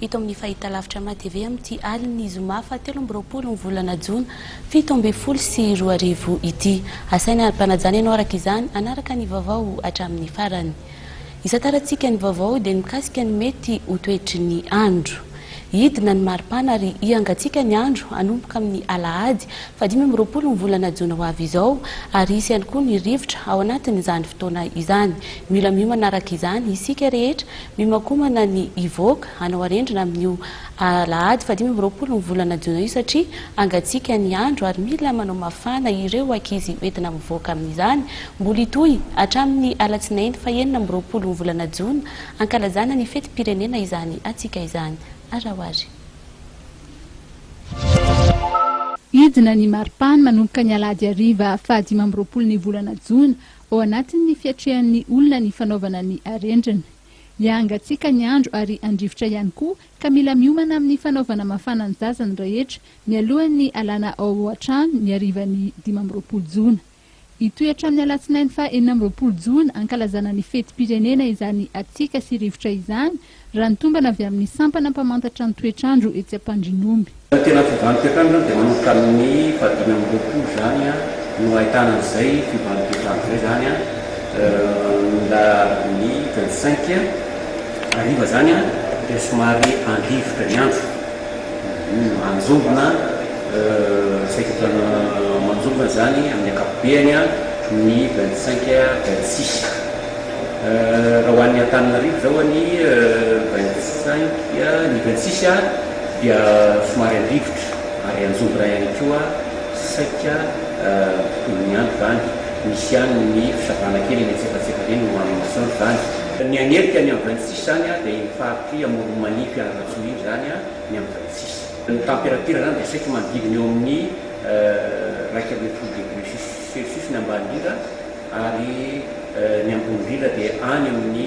Hita ao amin'ny fahitalavitra MATV amin'ity alin'ny zoma fahatelo amby roapolo ny volana jona fito ambin'ny folo sy roa arivo ity. Asaina ampanajana ianao araka izany hanaraka ny vaovao hatramin'ny farany. Isantarantsika ny vaovao dia ny mikasika ny mety ho toetry ny andro. Hidina ny maripana ary hihangatsiaka ny andro hanomboka amin'ny alahady fahadimy amby roapolo ny volana jona ho avy izao ary hisy ihany koa ny rivotra ao anatin'izany fotoana izany. Mila miomana araka izany isika rehetra Mihomakomana ny hivoaka hanao arendrina amin'io alahady fahadimy amby roapolo ny volana jiona io satria hangatsiaka ny andro ary mila manao mafana ireo ankizy hoentina mivoaka amin'izany. Mbola hitohy hatramin'ny alatsinainy fahenina amby roapolo ny volana jiona hankalazana ny fetim-pirenena izany hatsiaka izany. Araohary. Hidina ny maripàny manomboka ny alahady hariva fahadimy amby roapolo ny volana jiona. Ao anatin'ny fiatrehan'ny olona ny fanaovana ny arendrina. Hiahangatsiaka ny andro ary handrivotra ihany koa ka mila miomana amin'ny fanaovana mafana ny zaza ny rehetra mialohan'ny alana ao an-trano ny harivan'ny dimy amby roapolo jona. Hitohy hatramin'ny alatsinainy faha enina amby roapolo jona hankalazana ny fetim-pirenena izany hatsiaka sy rivotra izany Raha ny tombana avy amin'ny sampana mpamantatra ny toetr'andro etsy Ampandrinomby. Raha ny tena fivoahan'ny toetr'andro izany dia manomboka amin'ny fahadimy amby roapolo izany no ahitana an'izay fivoahan'ny toetr'andro izay izany mba ny vingt cinq hariva izany dia somary an-drivotra ny andro manjombona saika efa manjombona izany amin'ny ankapobeany ny vingt cinq vingt six. Raha ho an'ny Antananarivo izao anie vingt-cinq ny vingt-six dia somary an-drivotra ary an-jombona ihany koa saika tontolo ny andro izany, misy ihany ny fisavana kely eny antsefatsefany eny no amin'ny masoandro izany. Ny hanerika ny amin'ny vingt-six izany dia iny faritr'i Amoron'i Manify Analatsoa iny izany ny amin'ny vingt-six. Ny temperature izany dia saika manodidina eo amin'ny iraika ambin'ny folo degré celsius ny ambany indrindra ary ny ambony indrindra dia any amin'ny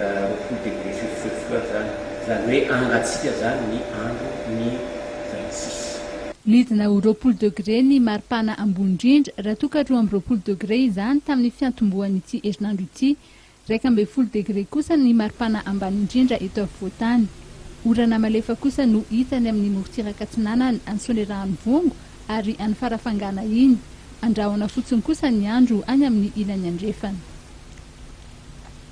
roapolo degré Celsius eo izany, izany hoe hangatsiaka izany ny andro ny valo-tsisy. Nidina ho roapolo degré ny maripana ambony indrindra raha toa ka roa amby roapolo degré izany tamin'ny fiantombohan'ity herinandro ity, Iraika ambin'ny folo degre kosa ny maripana ambany indrindra eto afovoan-tany. Orana malefa kosa no hita any amin'ny morontsiraka atsinanana any Soanierahanivoango ary any Farafangana iny. Andrahona fotsiny kosa ny andro any amin'ny ilany andrefana.